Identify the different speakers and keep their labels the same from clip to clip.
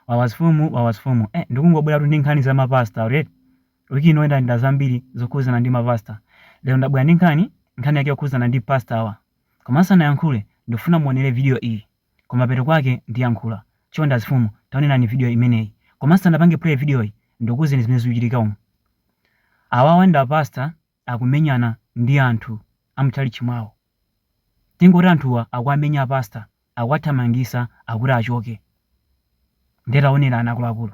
Speaker 1: Wawa azifumu, wawa azifumu. Eh, ndikungobweratu ndi nkhani za ma pastor atu eti. Week ino ndalandira zambiri zokhudzana ndi ma pastor. Lero ndabwera ndi nkhani, nkhani yake yokhudzana ndi pastor awa. Koma ndisanayankhule, ndikufuna muonere video iyi. Kumapeto kwake ndiyankhula. Chonde azifumu, taonerani video imeneyi. Koma ndisanapange play video yi, ndikuuzeni zimene zikuchitika umu. Awawa ndi a pastor akumenyana ndi anthu amutchalitchi mwawo tingoti anthuwa akuwamenya a pastor akuwathamangisa akuti achoke nde taonerani akuluakulu.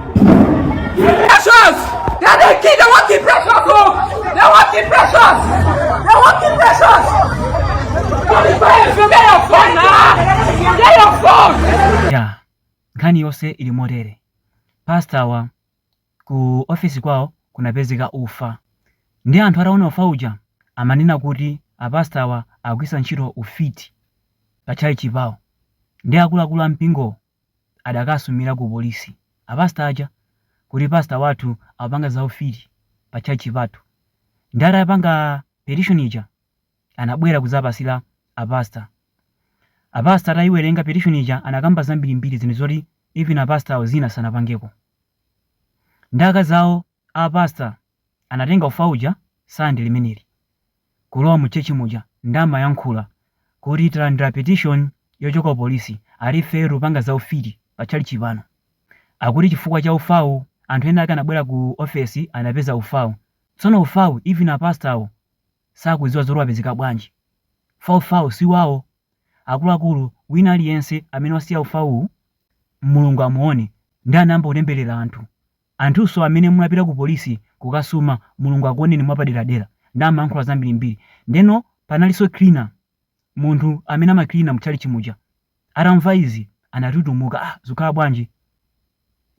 Speaker 2: Precious! They want the precious, oh! They want the precious! They want the precious! Come is my FM, get your phone now! Get your phone! ya
Speaker 1: nkhani yonse ili motere pastawa ku ofesi kwawo kunapezeka ufa nde anthu ataona ufa uja amanena kuti apastawa akugwiritsa ntchito ufiti pa tchalitchi pawo nde akuluakulu a mpingowo adakasumira ku polisi a pastor aja kuti pastor wathu akupanga za ufiti pa church pathu nde atapanga petition ija anabwera kuzapasira a pastor a pastor atayiwerenga petition ija anakamba zambirimbiri zinthu zoti even a pastor awo zina sanapangeko ndi zaka zawo A pastor anatenga ufa uja sunday limeneli kulowa mu church muja nde amayankhula kuti talandila petition yochoka ku police ati ifeyo tikupanga za ufiti pa tchalitchi pano akuti chifukwa cha ufawu anthu ena ake anabwera ku office anapeza ufawu tsono ufawu even a pastor wo sakuziwa zoti wapezeka bwanji fa ufawu si wawo akuluakulu wina aliyense amene wasiya ufawuwu mulungu amuone nde anayamba kutembelera anthu Anthunso amene munapita ku police kukasuma mulungu akuoneni mwapaderadera nde amayankhula zambirimbiri ndeno panalinso cleaner munthu amene amaklina mu tchalitchi muja atamva izi anatutumuka ah zikukhala bwanji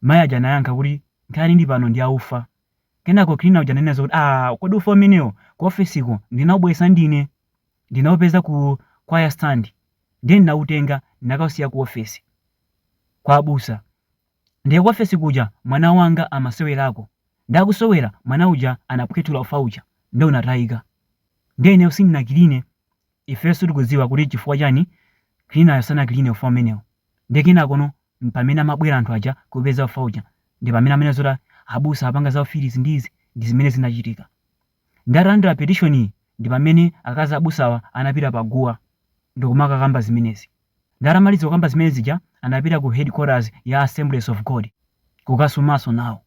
Speaker 1: mai aja anayankha kuti nkhani ili pano ndi ya ufa kenako cleaner uja ananenanso kuti ah kodi ufa umenewo ku office ko ndinaubweretsa ndine ndinaupeza ku choir stand nde ndinautenga ndinakausiya ku office kwa abusa Ndiye kuofesi kuja mwana wanga amasewerako. Ndiye akusewera, mwana uja anaphwethula ufa uja, ndiye unatayika. Ndiye ineyo sindinakiline, ifeyo sitikudziwa kuti n'chifukwa chani kilinayo sanakiline ufa umenewo. Ndiye kenakono m'pamene amabwera anthu aja kuupeza ufa uja, ndi pamene amanena zoti abusa akupanga za ufiti izi ndi izi, ndi zimene zinachitika. Ndatalandira petition-yi ndi pamene akazi abusawa anapita pa guwa ndikumakakamba zimenezi. Ndatamaliza kukamba zimene zija anapita ku headquarters ya Assemblies of God kukasumanso nawo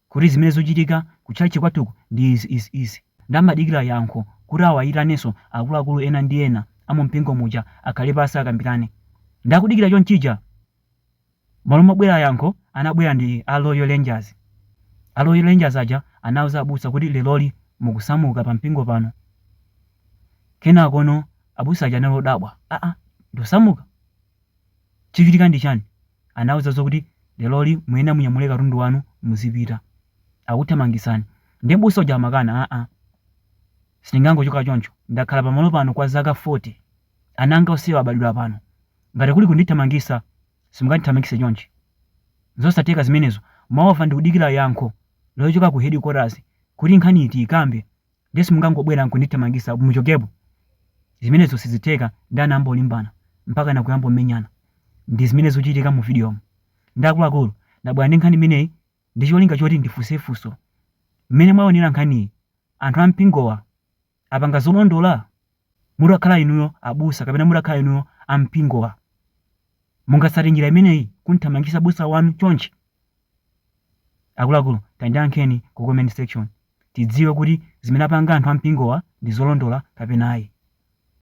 Speaker 1: kuti zimene zikuchitika ku tchalitchi kwathuku ndi izi izi izi. Nde amadikira yankho kuti awaitanenso akuluakulu ena ndi ena a mu mpingo muja akhale pansi akambirane. Nde akudikira chonchija, Malo mobwera yankho anabwera ndi a Royal Rangers. A Royal Rangers aja anauza abusa kuti leroli mukusamuka pa mpingo pano. Kenakono abusa aja anali odabwa, aa ndosamuka? Chikuchitika ndi chiyani? Anauza zokuti leroli muyenera munyamule katundu wanu muzipita. Akuthamangitsani. Ndiye mbusa uja amakana, aa sindingangochoka choncho, ndakhala pamalo pano kwa zaka 40. Ana anga onsewa abadwira pano. Ngati kuli kundithamangitsa, simungandithamangitse chonchi. Nzosatheka zimenezo. Moreover ndikudikira yankho lochoka ku hedikotazi kuti nkhaniyi tiikambe ndiye simungangobwera nkundithamangitsa muchokepo. Zimenezo sizitheka ndi anayamba kulimbana mpakana kuyamba kumenyana. Ndi zimene zikuchitika muvidiyomu. Ndi akuluakulu. Ndabwera ndi nkhani imeneyi ndi cholinga choti ndifunse funso. Mmene mwaonera nkhaniyi, anthu a mpingowa. apanga zolondola? Mutakhala inuyo abusa kapena mutakhala inuyo a mpingowa, mungatsate njira imeneyi kumthamangitsa busa wanu chonchi? Akuluakulu tandiyankheni ku comment section tidziwe kuti zimene apanga anthu a mpingowa ndi zolondola kapena ayi.